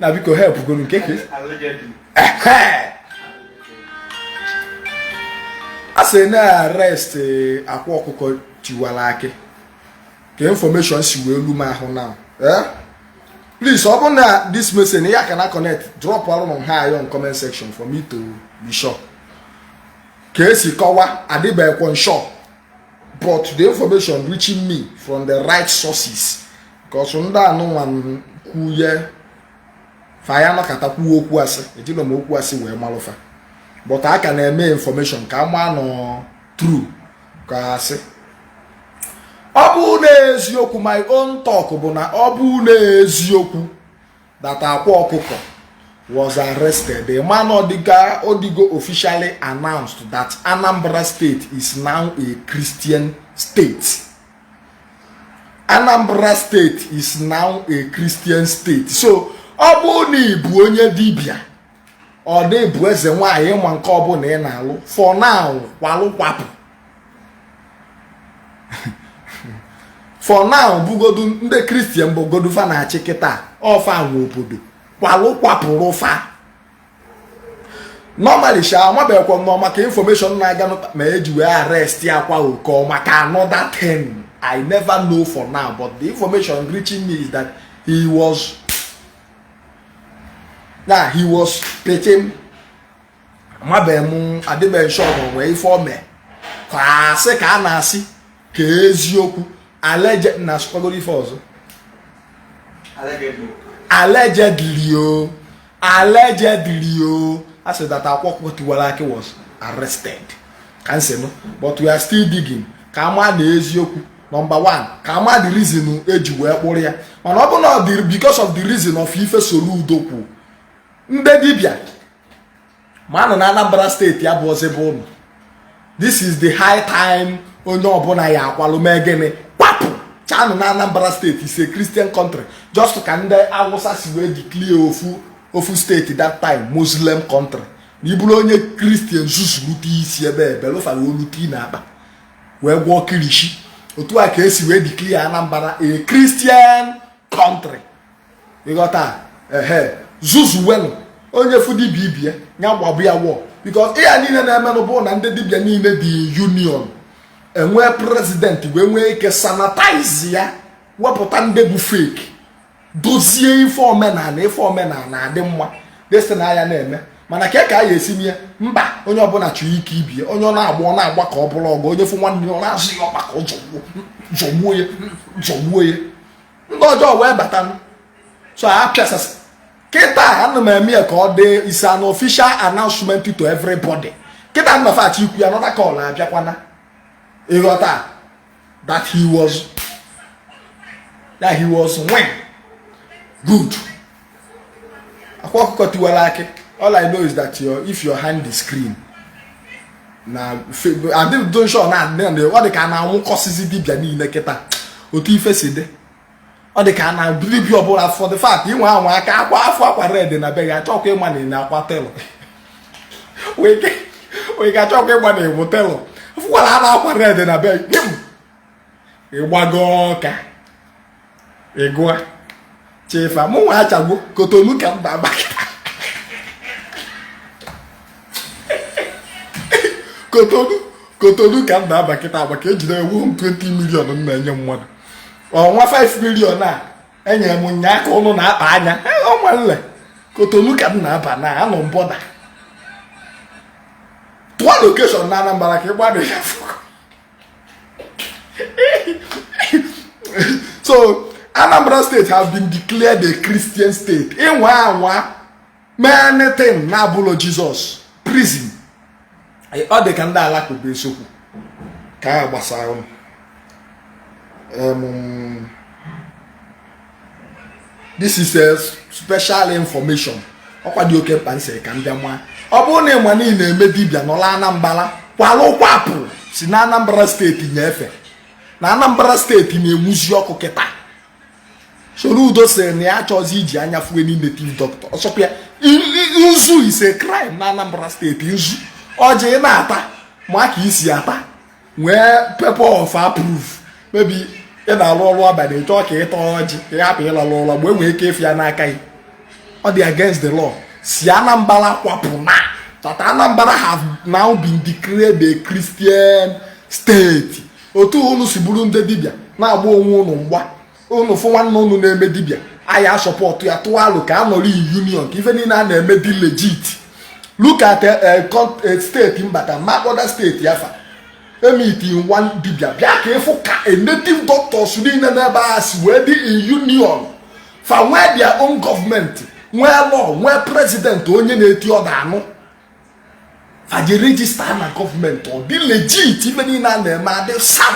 na biko help gonu nke ka a sị na arrest eh, akwa ọkụkọ tiwara akị ka information si wee lu m ahụ na eh? please ọ bụrụ na this message ya ka na connect dropụrụ m hi on comment section for me to be sure ka esi kọwa adịbeghịkwa m sure but the information reaching me from the right sources because ndị anụnwa kwu ye fa ya nọkata kwuo okwu asị ejilọ m okwu asị wee malụ fa but a ka na-eme information ka a maa na ọ true ka asị ọ bụ na eziokwu my own talk bụ na ọ bụ na eziokwu that akwa ọkụkọ was arrested. Ị ma na ọ dịgo officially announced that Anambra State is now a Christian state. Anambra state is now a Christian state so ọ bụrụ na ị bụ onye dibịa or na ị bụ eze nwaanyị ma nke ọbụla ị na-alụ for now kwalụ kwapụ for now bụgodu ndị Christian bụgodu fa na-achị kịta ọ fa nwe obodo kwalụ kwapụrụ fa normally sha amabeghịkwa m na ọ maka information na-aganụ me eji wee arrest akwa ọkụkọ maka another thing i never know for now but the information reaching me is that he was na he was picked amabeghị m adịbeghị m sure na o nwe ife o me ka asị ka a na-asị ka eziokwu allegedly na asụkwagoro ife ọzọ allegedly o allegedly o a sị that akwa ọkụkọ tiwara akị was arrested ka m si nụ but we are still digging ka a ma na eziokwu number 1 ka a ma the reason eji wee kpụrụ ya mana ọ bụ na because of the reason of ife Soludo kwu ndị dibịa ma nọ na Anambra state ya bụ ọzọ bụ ụnụ this is the high time onye ọbụla ya akwalụ mee gịnị kwapụ chanụ na Anambra state is a Christian country just ka ndị Awụsa si wee declare ofu ofu state that time Muslim country na ị bụrụ onye Christian zuzu rute isi ebe ebelụ fa wee olu tie na akpa wee gwọọ kirishi otu a ka esi wee declare Anambra a Christian country ị ghọta ehe zuzuwenụ onye fụ dibịa ibie ya gbabụ ya wọ because ihe a niile na-emenụ bụ na ndị dibịa niile dị union e nwee president wee nwee ike sanitize ya wepụta ndị bụ fake dozie ife omenala ife omenala adị mma this thing a ya na-eme mana ka ka a ya esi mee mba onye ọbụla chọrọ ike ibie onye ọ na-agba ọ na-agba ka ọ bụrụ ọgụ onye fụ nwanne ọ na-azọ ya ọkpa ka ọ zọgbuo ya zọgbuo ya ndị ọjọọ wee bata so a pịasasị kịta ana m eme ya ka ọ dị is an official announcement to everybody kịta nnọfachi ikwu another call abịakwana ịghọta that he was when good akwa ọkụkọ tiwara akị all i know is that if your hand is clean na adịdonshon ọ dị ka a na-anwụkọsịzi dibịa niile kịta otu ife si dị ọ dị ka na dibịa ọbụla for the fact ị nwaa anwa aka akwa afọ akwa red na be gị achọkwa ịma na ị na-akwa telọ wee ga achọkwa ịma na ị wụ telọ fụkwara na akwa red na be gị ị gbago ọka ị gụa chefa mụ nwa achagbu kotonu ka m na-aba kotonu ka m na-aba kịta agbaka ejide ewu 20 million m na-enye mmadụ ọnwa 5 million e nyere m nya ka ụnụ na-akpa anya ọnwa nle kotonu ka m na-aba na anọ m bọda tụọ location na anambra ka ị gbado ya fụkọ so anambra state has been declared a christian state ị nwaa anwa mee anything na-abụlọ jizọs prison ọ dị ka ndị alakụba eziokwu ka a gbasara ụnụ this is a special information ọkwa dị oke mkpa m sị ka m bịa maa ọ bụrụ na ị ma na ị na-eme dibịa nọla anambra kwalụ kwapụ si na anambra steeti nyefe na anambra steeti na-enwuzi ọkụ kịta soludo sị na ya achọzi iji anya fụ any native doctor ọ sọkwa ya nzu is a crime na anambra steeti nzu ọjị na-ata ma ka ị si ata nwee paper of approve maybe ị na-alụ ọlụ abanị chọọ ka ị taa ọjị ka ị hapụ ịlalụ ụla mgbe e nwee ike ịfụ ya n'aka gị ọ dị against the law si Anambra kwapụ now that Anambra have now been declared a Christian state otu unu si bụrụ ndị dibịa na-agba onwe unu mgba unu fụ nwanne unu na-eme dibịa anyị a support ya tụọ alo ka a nọrọ in union ka ife niile a na-eme dị legit look at eh, eh, eh, steeti mbata magoda steeti afa meeting ụmụ dibịa bịa ka ị fụ ka native doctors niile n'ebe a si wee dị in union fa nwee their own gọọmenti nwee law nwee president onye na-eti order a nụ fa je register na gọọmenti ọ dị legit ife niile a na-eme adị sam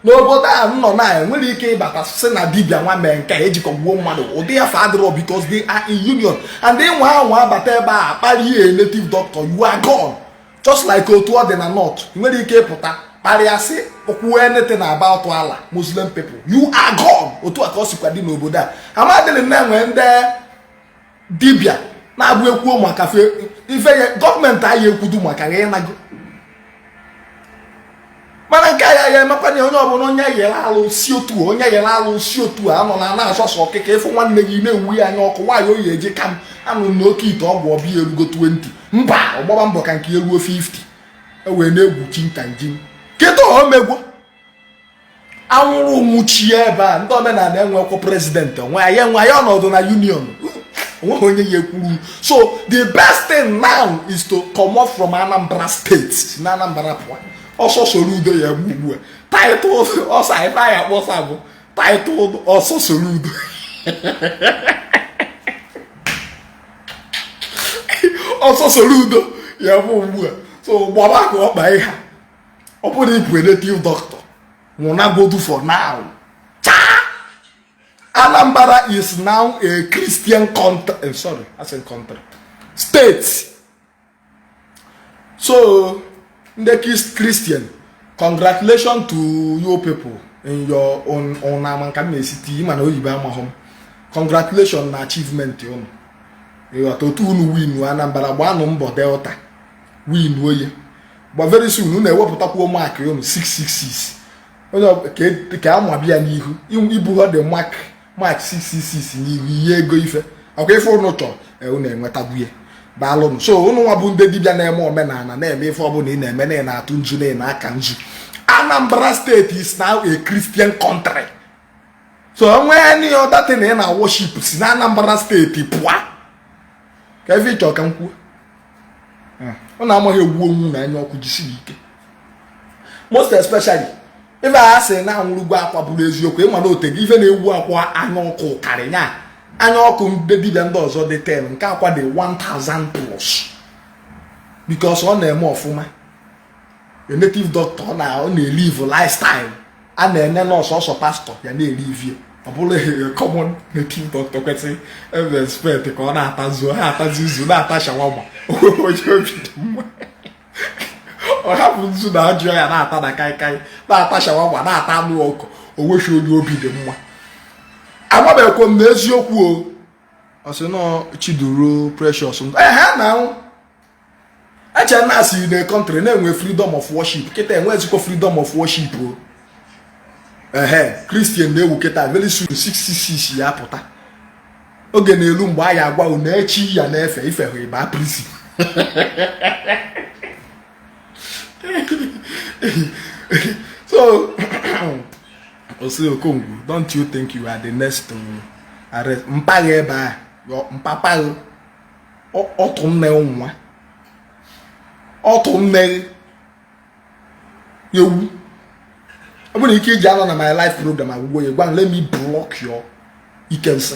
n'obodo a m nọ na enwere ike ịbata sị na dibia nwa mee nke eji kọgbuo mmadụ ụdị ịfa adịrọ because they are in union and ị nwaa anwa abata ebe a kparie native doctor you are gone just like otu ọ dị na north nwere ike ịpụta kparịa sị okwu anything about Allah muslim people you are gone otu a ka ọ sikwa dị n'obodo a amadịrị na enwe ndị dibịa na-abụ ekwuo maka ife ya gọọmenti anyị ekwudu maka ya ịnago mana nke ya ya emekwanye onye ọbụla onye yere alụsị otu onye yere alụsị otu a nọ na na-asọsọ ọkịka ịfụ nwanne gị na-ewu ya anya ọkụ nwaanyị oyi eji ka m anụ na okeite ọgwụ ọbịa erugo 20 mba ọ gbaba mbọ ka nke eruo 50 ewee na-egwu chi nta njin kịta omegwo anwụrụ nwụchie ebe a ndị omenala enwekwa president onwe ya enwe ya ọnọdụ na union onweghị onye ya ekwuru so the best thing now is to come off from anambra state si na anambra pụọ ọsọ Soludo ya bụ ugbu a title ọsọ ife anyị akpọsa bụ title ọsọ Soludo ọsọ Soludo ya bụ ugbu a so gbaba ka ọkpa ị ha ọ bụrụ ị bụ native doctor nwụnagodu for now Anambra is now a Christian country eh, sorry I said country state so ndị Christian congratulations to you people in your own own ama m ka m na-esi tii ị ma na oyibo amahụ m congratulations na achievement unu ịghọta otu unu win Anambra gbaanụ mbọ Delta win oye but very soon unu ewepụtakwuo mark unu 666 onye e, ka amabi ya n'ihu ibuhọ the mark mark 666 n'ihu ị ya ego ife ọ kwa ife unu chọrọ e, unu enwetagwo ya daalụnụ so unu nwa bụ ndị dibịa na-eme omenala na-eme ife ọbụla ị na-eme na ị na-atụ nzu na ị na-aka nzu Anambra state is now a Christian country so onwe any other thing ị na worship si na Anambra state pụọ ka ife ị chọ ka m kwuo ọ na-amaghị egbu onwu na anya ọkụ jisi ike most especially ife a sị na anwụrụgwo Akwa bụrụ eziokwu ị ma na otego ife na-ewu Akwa anya ọkụ karị ya anya ọkụ ndị dibịa ndị ọzọ dị 10 nke Akwa dị 1000 plus because ọ na-eme ọfụma a native doctor ọ na-elive lifestyle a na-ene na ọ sọsọ pastor ya na-elivie ọ bụrụ common native doctor kwesịrị e expect ka ọ na-ata nzu ha atazi nzu na-ata shawarma onye obi dị mma ọ hapụ nzu na ọjị ya na-ata na kaikai na-ata shawarma na-ata anụ ọkụ o nweghị onye obi dị mma amabeghịkwa m na eziokwu o ọ sị na ọ Chiduru Precious ehe na e chere na a sị na country na-enwe freedom of worship kịta enwezikwo freedom of worship o ihe Christian na-ewu kịta very soon 666 ya-apụta oge na-elu mgbe a ya-agwa unu echi ya na-efe ife ahụ ị baa prison so Osi Okongwu don't you think you are the next to arrest mpa gị ebe a mpapaghị ọtụ nne nwa ọtụ nne ewu ọ bụrụ ike i ji anọ na my live program agwụgwo ya gwa let me block you ike nsị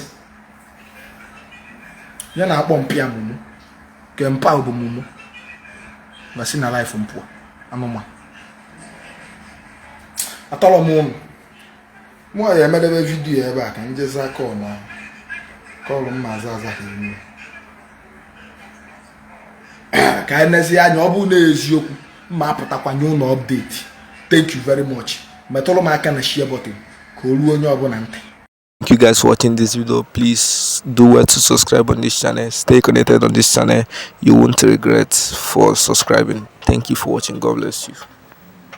ya na-akpọ mpa mumu ke mpa bụ mumu na si na live m pụa anụmanụ atọrọ m ụnụ m ya-emedebe vidiyo ebe a ka m jezi aka ọna kọlụ m maazị azaghị ime ka anyị nezie anya ọ bụrụ na eziokwu m apụtakwa nye unu update thank you very much metụrụ m aka na share button ka o ruo onye ọbụla ntị Thank you guys for watching this video. Please do well to subscribe on this channel. Stay connected on this channel. You won't regret for subscribing. Thank you for watching. God bless you.